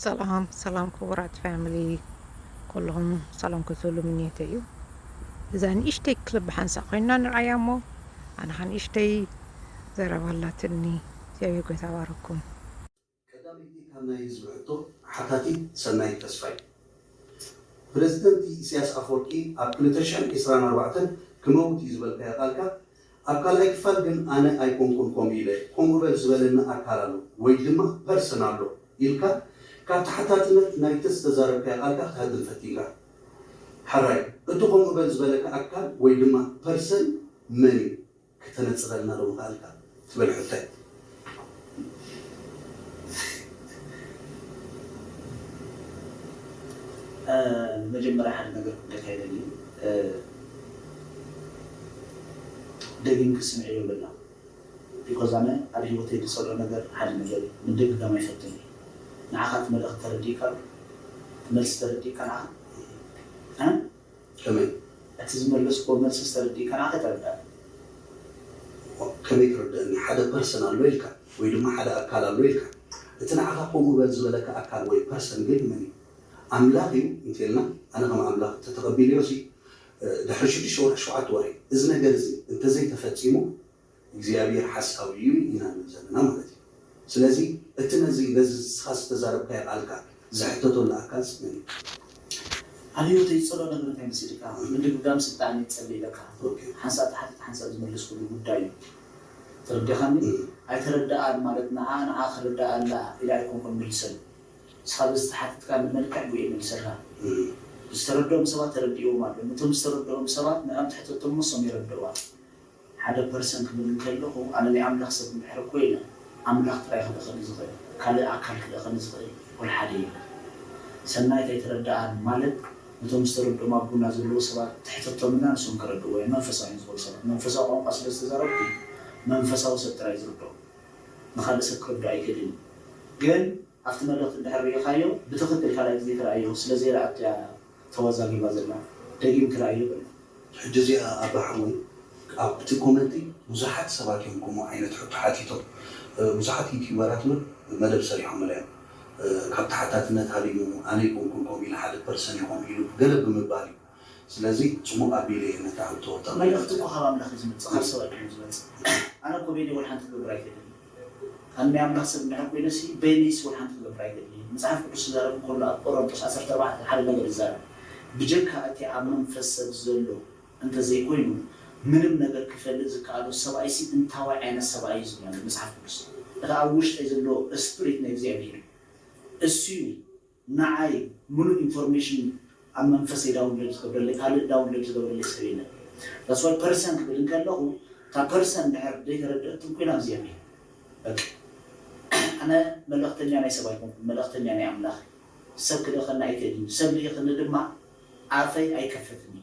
ሰላም ሰላም ክቡራት ፋሚሊ ኩልኹም ሰላም ክትብሉ ምንየተ እዩ እዛ ንእሽተይ ክልብ ሓንሳ ኮይና ንርኣያ እሞ ኣነ ኸ ንእሽተይ ዘረባ ኣላትኒ እግዚኣብሔር ጎይታ ባረኩም ቀዳመይቲ ካብ ናይ ህዝቢ ሕቶ ሓታቲት ሰናይት ተስፋይ። ፕረዚደንት ኢሰያስ ኣፎርቂ ኣብ ክልተ ሽሕን ዒስራን ኣርባዕተን ክመውት እዩ ዝበልካዮ ቃልካ ኣብ ካልኣይ ክፋል ግን ኣነ ኣይኮንኩን ከምኡ ኢለ፣ ከምኡ በል ዝበለኒ ኣካል ኣሎ ወይ ድማ ፐርሰን ኣሎ ኢልካ ካብ ተሓታትነት ናይቲ ዝተዛረብካዮ ኣልካ ክትሃድም ፈቲንካ። ሐራይ እቲ ከምኡ በል ዝበለካ ኣካል ወይ ድማ ፐርሰን መን እዩ? ክተነጽረልና ዶ ምኸኣልካ? ትብል ሕቶ እያ። መጀመርያ ሓደ ነገር ክብለካ ይደሊ ደጊምኪ ስምዕዮ ይብለና ቢኮዝ ኣነ ኣብ ሂወተይ ድጸልኦ ነገር ሓደ ነገር እዩ ምድግጋም ኣይፈቱን እየ ንዓካ እቲ መልእክቲ ተረዲእካ ዶ እቲ መልሲ ተረዲእካ ንዓካ እ። ከመይ? እቲ ዝመለስክዎ መልስስ ተረዲእካ ናተይ ተረዳእኒ። እሞ ከመይ ትርደእኒ? ሓደ ፐርሰን ኣሎ ኢልካ ወይ ድማ ሓደ ኣካል ኣሎ ኢልካ። እቲ ንዓኻ ከምኡ በል ዝበለካ ኣካል ወይ ፐርሰን ግን መን እዩ? ኣምላኽ እዩ እንተይልና ኣነ ከም ኣምላኽ እንተተቐቢለዮሲ ድሕሪ ሽዱሽተ ወርሒ ሸውዓተ ወርሒ እዚ ነገር እዚ እንተዘይተፈፂሙ እግዚኣብሔር ሓሳዊ እዩ ኢና ንብል ዘለና ማለት እዩ ስለዚ እቲ ነዚ በዚ ንስኻ ዝተዛረብካዮ ቃልካ ዝሕተተሉ ኣካልስ መን እዩ? ኣብዮተይ ጸሎት ነገር እንታይ መሲልካ ምድግጋም ስልጣን እየ ጸልየለካ ሓንሳእ ተሓቲት ሓንሳእ ዝመለስኩሉ ጉዳይ እዩ ተረዲኻኒ ኣይተረደኣን ማለት ንዓ ንዓ ክርዳኣ ኣላ ኢለ ኣይኮንኩን ምልሰሉ ንስኻ በዚ ተሓቲትካኒ መልክዕ ብኡ እየ መልሰልካ ዝተረደኦም ሰባት ተረዲእዎም ኣሎ ነቶም ዝተረደኦም ሰባት ንዕኦም ትሕተቶም እሞ እሶም የረድእዋ ሓደ ፐርሰን ክብል እንከለኹ ኣነ ናይ ኣምላኽ ሰብ እንድሕር ኮይነ ኣምላኽ ጥራይ ክልእኸኒ ዝኽእል ካልእ ኣካል ክልእኸኒ ዝኽእል ወልሓደ የለን ሰናይት ኣይተረደኣን ማለት ነቶም ዝተረድኦም ኣብ ጎና ዘለዉ ሰባት ትሕተቶም እና ንሶም ከረድእዋ እዮም መንፈሳውያን ዝኾኑ ሰባት መንፈሳዊ ቋንቋ ስለ ዝተዛረብኩ እዩ መንፈሳዊ ሰብ ጥራይ ዝርድኦ ንኻልእ ሰብ ክርድኦ ኣይክእልን እዩ ግን ኣብቲ መድረኽ እንድሕር ሪኢኻዮ ብትኽክል ካልኣይ ግዜ ክርኣዮ ስለ ዘይረኣቶ እያ ተዋዛጊባ ዘላ ደጊም ክርኣዮ በለ። ሕጂ እዚኣ ኣባ ሓወይ ኣብቲ ኮመንቲ ብዙሓት ሰባት እዮም ከምኡ ዓይነት ሕቶ ሓቲቶም ብዙሓት ዩቱበራት እውን መደብ ሰሪሖምላ እዮም ካብ ተሓታትነት ሃዲሙ ኣነ ኣይኮንኩን ከምኡ ኢለ ሓደ ፐርሰን ኢኹም ኢሉ ገለ ብምባል እዩ። ስለዚ ጽቡቅ ኣቢለ እየ ነታ ሕቶ ተመሊስኩ። መልእኽቲ እኮ ካብ ኣምላኽ እዩ ዝመጽእ ካብ ሰብ ኣይኮነን ዝመጽእ ኣነ እኮ በይነይ ወልሓንቲ ክገብር ኣይደልን ኣነ ናይ ኣምላኽ ሰብ እንድሕር ኮይነሲ በይነይሲ ወልሓንቲ ክገብር ኣይደልይን መጽሓፍ ቅዱስ ክዛረብ እንከሎ ኣብ ቆረንጦስ ዓሰርተ ኣርባዕተ ሓደ ነገር ይዛረብ ብጀካ እቲ ኣብ መንፈስ ሰብ ዘሎ እንተ ዘይኮይኑ ምንም ነገር ክፈልጥ ዝከኣሎ ሰብኣይሲ እንታዋይ ዓይነት ሰብኣይ እዩ ዝብል ኣሎ መጽሓፍ ቅዱስ እቲ ኣብ ውሽጠይ ዘሎ እስፕሪት ናይ እግዚኣብሄር እዩ እሱዩ ናዓይ ሙሉእ ኢንፎርሜሽን ኣብ መንፈሰይ ዳውንሎድ ዝገብረለይ ካልእ ዳውንሎድ ዝገብረለይ ሰብ የለን that's why person ክብል እንከለኹ እታ person እንድሕር ደይተረደኣትም ኮይና እዚኣ እየ በቃ ኣነ መልእኽተኛ ናይ ሰብ ኣይኮንኩን መልእኽተኛ ናይ ኣምላኽ እየ ሰብ ክልእኸኒ ኣይክእልን እዩ ሰብ ልኢኽኒ ድማ ኣፈይ ኣይከፈትን እዩ።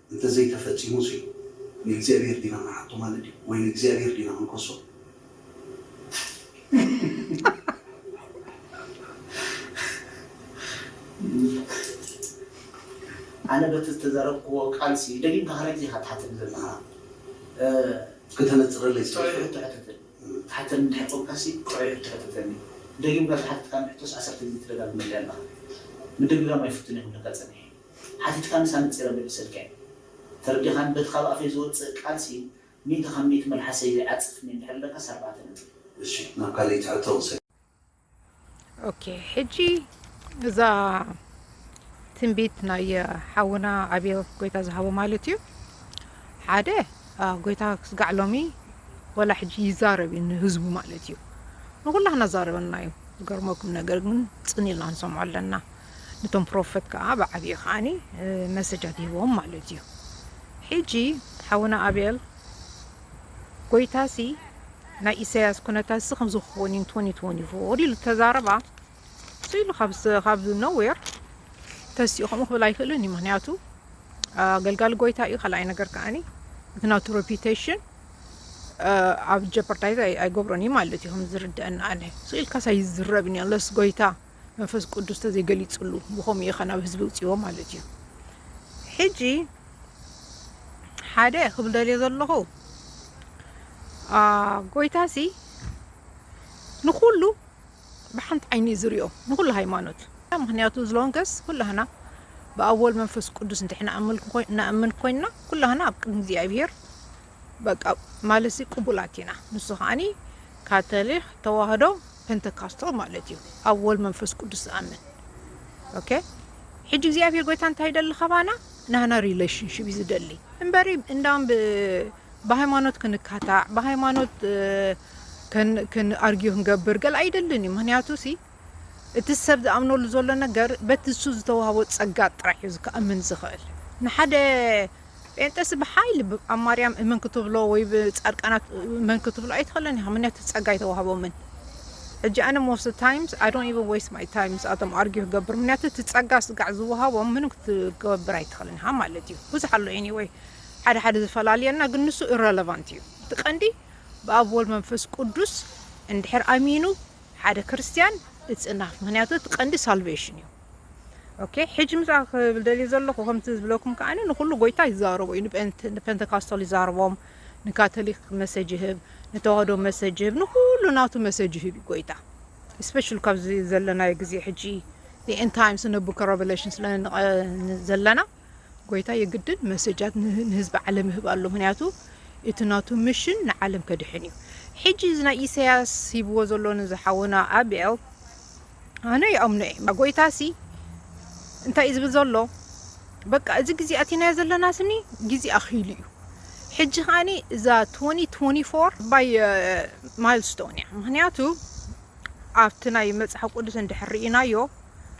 እንተ ዘይተፈጺሙሲ ንእግዚኣብሄር ዲና ንሓቶ ማለት ድዩ ወይ ንእግዚኣብሄር ዲና ክንከሶ? ኣነ በቲ ዝተዛረብክዎ ቃልሲ ደጊምካ ካልኣይ ግዜ ኢኻ ትሓተኒ ዘለኻ ክተነጽረለይ ስለ ጥዑይ ሕቶ ሕተተኒ ትሓተኒ እንድሕር ኮንካሲ ጥዑይ ሕቶ ሕተተኒ ደጊምካ ዝሓተትካኒ ሕቶስ ዓሰርተ ግዜ ትደጋግመለይ ኣለኻ ምድግጋም ኣይፍቱን እየ ክብለካ ጸኒሐ ሓቲትካንስ ኣነጺረ ምልሰልካ'የ ተረዲኻኒ በቲ ካብ ኣፈይ ዝወጽእ ቃልሲ ሚእቲ ካብ ሚእቲ መልሓሰይ ዘይዓጽፍኒ እንድሕር ኢለካስ ኣርባዕተ ነጥቢ። እሺ ናብ ካሊእቲ ሕቶ ክሰግር። ኦኬ ሕጂ እዛ ትንቢት ናይ ሓውና ኣብዮ ጎይታ ዝሃቦ ማለት እዩ ሓደ ጎይታ ክስጋዕ ሎሚ ወላ ሕጂ ይዛረብ እዩ ንህዝቡ ማለት እዩ ንኩላህና ዛረበና እዩ ዝገርመኩም ነገር ግን ጽን ኢልና ንሰምዖ ኣለና ነቶም ፕሮፈት ከኣ ብዓቢኡ ከኣኒ መሰጃት ይህቦም ማለት እዩ ሒጂ ሓውና ኣቤል ጎይታሲ ናይ ኢሰያስ ኩነታትሲ ከምዚ ክኸውን እዩ ንትወኒ ትወኒ ፎር ኢሉ ተዛረባ እሱ ኢሉ ካብ ኖዌር ተሲኡ ከምኡ ክብል ኣይክእልን እዩ ምክንያቱ ኣገልጋሊ ጎይታ እዩ ካልኣይ ነገር ከኣኒ እቲ ናቱ ሬፒቴሽን ኣብ ጀፐርዳይዝ ኣይገብሮን እዩ ማለት እዩ ከም ዝርድአና ኣነ እሱ ኢልካስ ኣይዝረብን እዩ ኣለስ ጎይታ መንፈስ ቅዱስ ተዘይ ገሊጽሉ ብከምኡ ኢካ ናብ ህዝቢ ኣውጺዎ ማለት እዩ ሕጂ ሓደ ክብል ደልየ ዘለኹ ጎይታሲ ንኩሉ ብሓንቲ ዓይኒ እዩ ዝሪኦ ንኩሉ ሃይማኖት ምክንያቱ ዝሎንገስ ኩላህና ብኣብ ወልድ መንፈስ ቅዱስ እንድሕና እናእምን ኮይንና ኩላህና ኣብ ቅድሚ እግዚኣብሄር በቃ ማለትሲ ቅቡላት ኢና ንሱ ከዓኒ ካተሊክ ተዋህዶ ፐንተካስታል ማለት እዩ ኣብ ወል መንፈስ ቅዱስ ዝኣምን ኦኬ ሕጂ እግዚኣብሔር ጎይታ እንታይ ይደሊ ካባና ናህና ሪሌሽንሽፕ እዩ ዝደሊ እምበሪ እንዳም ብሃይማኖት ክንካታዕ ብሃይማኖት ክንኣርግዮ ክንገብር ገል ኣይደልን እዩ ምክንያቱ ሲ እቲ ሰብ ዝኣምነሉ ዘሎ ነገር በቲ ንሱ ዝተዋህቦ ጸጋ ጥራሕ እዩ ክኣምን ዝኽእል። ንሓደ ጴንጠስ ብሓይሊ ኣብ ማርያም እመን ክትብሎ ወይ ብጻድቃናት እመን ክትብሎ ኣይትኽእልን ኢኻ ምክንያቱ ጸጋ ኣይተዋህቦምን። ሕጂ ኣነ ሞስት ታይምስ ኣይ ዶንት ኢቨን ዌስት ማይ ታይም ምስኣቶም ኣርጊ ክገብር ምክንያቱ እቲ ጸጋ ስጋዕ ዝወሃቦም ምንም ክትገብር ኣይትኽእልን ኢኻ ማለት እዩ ብዙሕ ኣሎ ኤኒወይ ሓደ ሓደ ዝፈላልየና ግን ንሱ ኢረለቫንት እዩ እቲ ቀንዲ ብኣብ ወልድ መንፈስ ቅዱስ እንድሕር ኣሚኑ ሓደ ክርስትያን እጽናፍ ምክንያቱ እቲ ቀንዲ ሳልቨሽን እዩ ኦኬ ሕጂ ምስ ክብል ደልየ ዘለኹ ከምቲ ዝብለኩም ከኣ ንኩሉ ጎይታ ይዛረቦ እዩ ንፔንተካስቶል ይዛረቦም ንካቶሊክ መሰጅ ይህብ ንተዋህዶ መሰጅ ይህብ ንኩሉ ናቱ መሰጅ ይህብ እዩ ጎይታ ስፔሻል ካብዚ ዘለናዮ ግዜ ሕጂ ኤን ታይምስ ነቡከ ረቨሌሽን ስለዘለና ጎይታ የግድን መሰጃት ንህዝቢ ዓለም ይህብ ኣሎ ምክንያቱ እቲ ናቱ ምሽን ንዓለም ከድሕን እዩ ሕጂ እዚ ናይ ኢሳያስ ሂብዎ ዘሎ ነዚ ሓውና ኣቤል ኣነ ይኣምኖ እየ እምበር ጎይታሲ እንታይ እዩ ዝብል ዘሎ በቃ እዚ ግዜ ኣቲናዮ ዘለና ስኒ ግዜ ኣኺሉ እዩ ሕጂ ከዓኒ እዛ 2024 ባይ ማይልስቶን እያ ምክንያቱ ኣብቲ ናይ መጽሓፍ ቅዱስ እንድሕር ርኢናዮ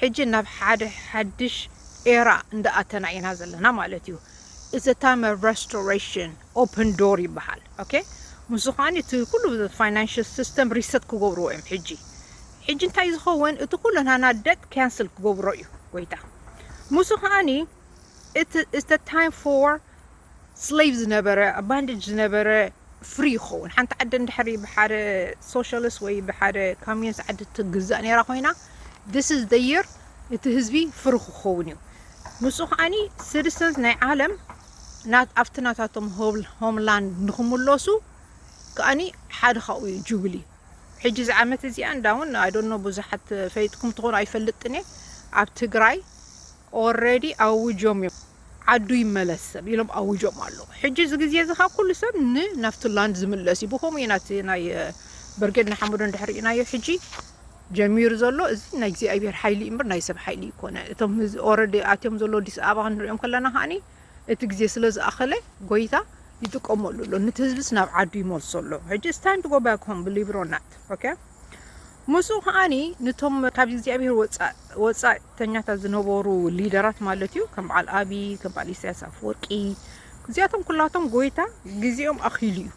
ሕጂ ናብ ሓደ ሓድሽ ኤራ እንዳኣተና ኢና ዘለና ማለት እዩ ኢትስ አ ታይም ኦፍ ረስቶሬሽን ኦፕን ዶር ይበሃል ኦኬ ምስዚ ከኣ እቲ ኩሉ ፋይናንሽል ሲስተም ሪሰት ክገብርዎ እዮም ሕጂ ሕጂ እንታይ ዝኸውን እቲ ኩሉ ናና ደት ካንስል ክገብሮ እዩ ጎይታ ምስዚ ከኣ እቲ ኢትስ አ ታይም ፎር slave ዝነበረ ኣብ ባንደጅ ዝነበረ ፍሪ ክኸውን ሓንቲ ዓዲ እንድሕሪ ብሓደ ሶሻሊስት ወይ ብሓደ ካሚንስ ዓዲ ትግዛእ ነይራ ኮይና this is the year እቲ ህዝቢ ፍሪ ክኸውን እዩ ንሱ ከዓኒ citizens ናይ ዓለም ናት ኣብቲ ናታቶም ሆምላንድ ንክምለሱ ከዓኒ ሓደ ካብኡ እዩ ጁብሊ ሕጂ እዚ ዓመት እዚኣ እንዳውን ኣይ ዶንት ኖ ብዙሓት ፈሊጥኩም ትኾኑ ኣይፈልጥን እየ ኣብ ትግራይ ኦልሬዲ ኣውጆም እዮም ዓዱ ይመለስ ሰብ ኢሎም ኣዊጆም ኣለው ሕጂ እዚ ግዜ እዚ ከኣ ኩሉ ሰብ ን ናብቲ ላንድ ዝምለስ እዩ ብከምኡ ኢና እቲ ናይ በርጌድ ንሓመዱ እንድሕር ሪኢናዮ ሕጂ ጀሚሩ ዘሎ እዚ ናይ እግዚኣብሄር ሓይሊ እዩ እምበር ናይ ሰብ ሓይሊ ኣይኮነን እቶም ህዝ ኦረዲ ኣትዮም ዘለው ኣዲስ ኣበባ ክንሪኦም ከለና ከኣኒ እቲ ግዜ ስለ ዝኣኸለ ጎይታ ይጥቀመሉ ኣሎ ንቲ ህዝብስ ናብ ዓዱ ይመልሶ ኣሎ ሕጂ ኢትስ ታይም ቱ ጎ ባክ ሆም ብሊቭ ኢት ኦር ናት ኦኬ ምስኡ ከኣ ነቶም ካብ እግዚኣብሄር ወጻእተኛታት ዝነበሩ ሊደራት ማለት እዩ ከም በዓል ኣቢ ከም በዓል ኢሳያስ ኣፈወርቂ እዚኣቶም ኩላቶም ጎይታ ግዜኦም ኣኺሉ እዩ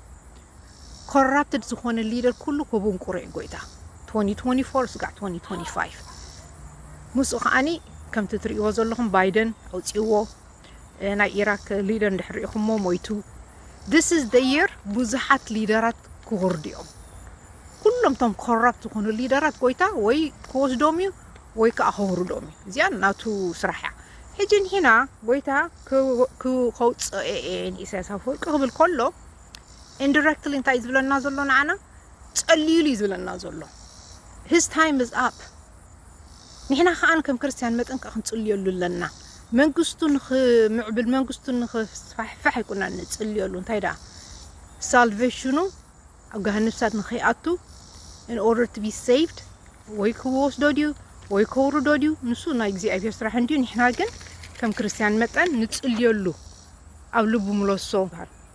ኮራፕትድ ዝኾነ ሊደር ኩሉ ክቡንቁሮ እዩ ጎይታ 2024 ስጋዕ 2025 ምስኡ ከዓኒ ከምቲ ትርእይዎ ዘለኹም ባይደን ኣውፅዎ ናይ ኢራክ ሊደር እንድሕር ሪኢኹሞ ሞይቱ this is the year ብዙሓት ሊደራት ክወርዱ እዮም ኩሎም እቶም ኮራፕት ዝኾኑ ሊደራት ጎይታ ወይ ክወስዶም እዩ ወይ ከዓ ከውርዶም እዩ እዚኣ ናቱ ስራሕ እያ ሕጂ ንሕና ጎይታ ከውፅኦ እየ ንኢሳያስ ኣፈወርቂ ክብል ከሎ ኢንዲረክትሊ እንታይ ዝብለና ዘሎ ንዓና ጸልዩሉ እዩ ዝብለና ዘሎ ሂስ ታይም ኢዝ ኣፕ ንሕና ከኣ ከም ክርስትያን መጠን ከኣ ክንጽልየሉ ኣለና መንግስቱ ንኽምዕብል መንግስቱ ንኽስፋሕፋሕ ኣይኮናን ንጽልየሉ እንታይ ደኣ ሳልቨሽኑ ኣብ ገሃነብሳት ንኸይኣቱ in order to be saved ወይ ክወስዶ ድዩ ወይ ከውርዶ ድዩ ንሱ ናይ እግዚኣብሔር ስራሕ እንድዩ ንሕና ግን ከም ክርስትያን መጠን ንጽልየሉ ኣብ ልቡ ምለሶ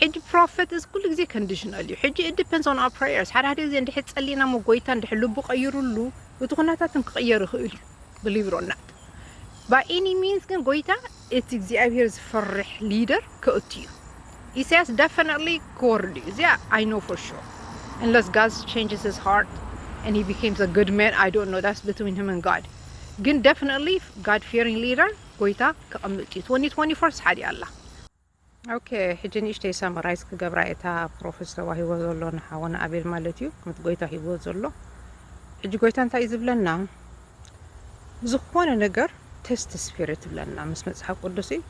ሕጂ ፕሮፈት እዚ ኩሉ ግዜ ከንድሽናል እዩ ሕጂ ኢት ዲፐንስ ኦን ኣወር ፕረየርስ ሓደ ሓደ ግዜ እንድሕር ጸሊና እሞ ጎይታ እንድሕር ልቡ ቀይሩሉ እቲ ኩነታት እውን ክቅየር ይክእል እዩ ብሊቭ ኢት ኦር ናት ባይ ኤኒ ሚንስ ግን ጎይታ እቲ እግዚኣብሄር ዝፈርሕ ሊደር ከእቱ እዩ ኢሳያስ ደፈነትሊ ክወርድ እዩ እዚኣ ኣይ ኖ ፎር ሹር unless God changes his heart and he becomes a good man I don't know that's between him and God ግን definitely God fearing leader ጎይታ ከቐምጥ እዩ 2024 ሓዲኣ ኣላ ኦኬ ሕጂ ንእሽተይ ሳመራይዝ ክገብራ እየ እታ ፕሮፌስ ተዋሂቦ ዘሎ ንሓወና ኣቤል ማለት እዩ ከምቲ ጎይታ ሂብዎ ዘሎ ሕጂ ጎይታ እንታይ እዩ ዝብለና ዝኾነ ነገር ቴስት ስፒሪት ይብለና ምስ መጽሓፍ ቅዱስ እዩ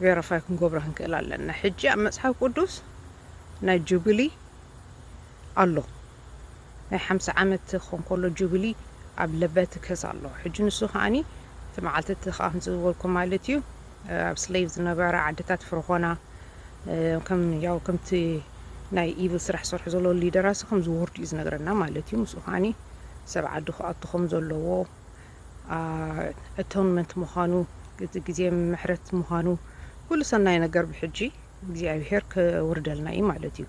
ቬሪፋይ ክንገብሮ ክንክእል ኣለና ሕጂ ኣብ መጽሓፍ ቅዱስ ናይ ጁብሊ ኣሎ ናይ ሓምሳ ዓመት ክኾን ከሎ ጁብሊ ኣብ ለበቲ ክሕዝ ኣለዎ ሕጂ ንሱ ከኣ እቲ መዓልቲ እቲ ከኣ ከምዚ ዝበልኩም ማለት እዩ ኣብ ስሌቭ ዝነበራ ዓድታት ፍርኾና ከም ያው ከምቲ ናይ ኢቭል ስራሕ ዝሰርሑ ዘሎ ሊደራሲ ከም ዝወርዱ እዩ ዝነግረና ማለት እዩ ምስኡ ከኣ ሰብ ዓዱ ክኣቱ ከም ዘለዎ ኣቶንመንት ምዃኑ እቲ ግዜ ምሕረት ምዃኑ ኩሉ ሰናይ ነገር ብሕጂ እግዚኣብሄር ከውርደልና እዩ ማለት እዩ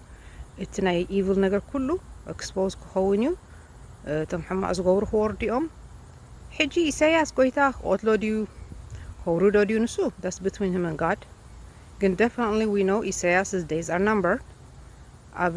እቲ ናይ ኢቭል ነገር ኩሉ ኤክስፖዝ ክኸውን እዩ እቶም ሕማቅ ዝገብሩ ክወርዱ እዮም ሕጂ ኢሳያስ ጎይታ ክቆትሎ ድዩ ከውርዶ ድዩ ንሱ ዳስ ብትዊን ህመን ጋድ ግን ደፍንትሊ ዊ ኖው ኢሳያስ ዴይዝ ኣር ናምበር ኣብ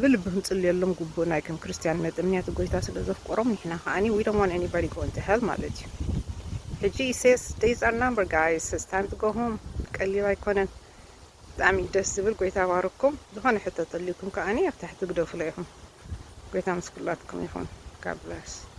ብልቢ ክንጽልየሎም ግቡእ ናይ ከም ክርስትያንነት እምንያት ጎይታ ስለ ዘፍቆሮም ንሕና ከኣ we don't want anybody going to hell ማለት እዩ ሕጂ ኢሰያስ days are number guys it's time to go home ቀሊል ኣይኮነን ብጣዕሚ እዩ ደስ ዝብል ጎይታ ባርኩም ዝኾነ ሕቶ ተልዩኩም ከኣ ኣብ ታሕቲ ግደፉለይ ኢኹም ጎይታ ምስ ኩላትኩም ይኹን God bless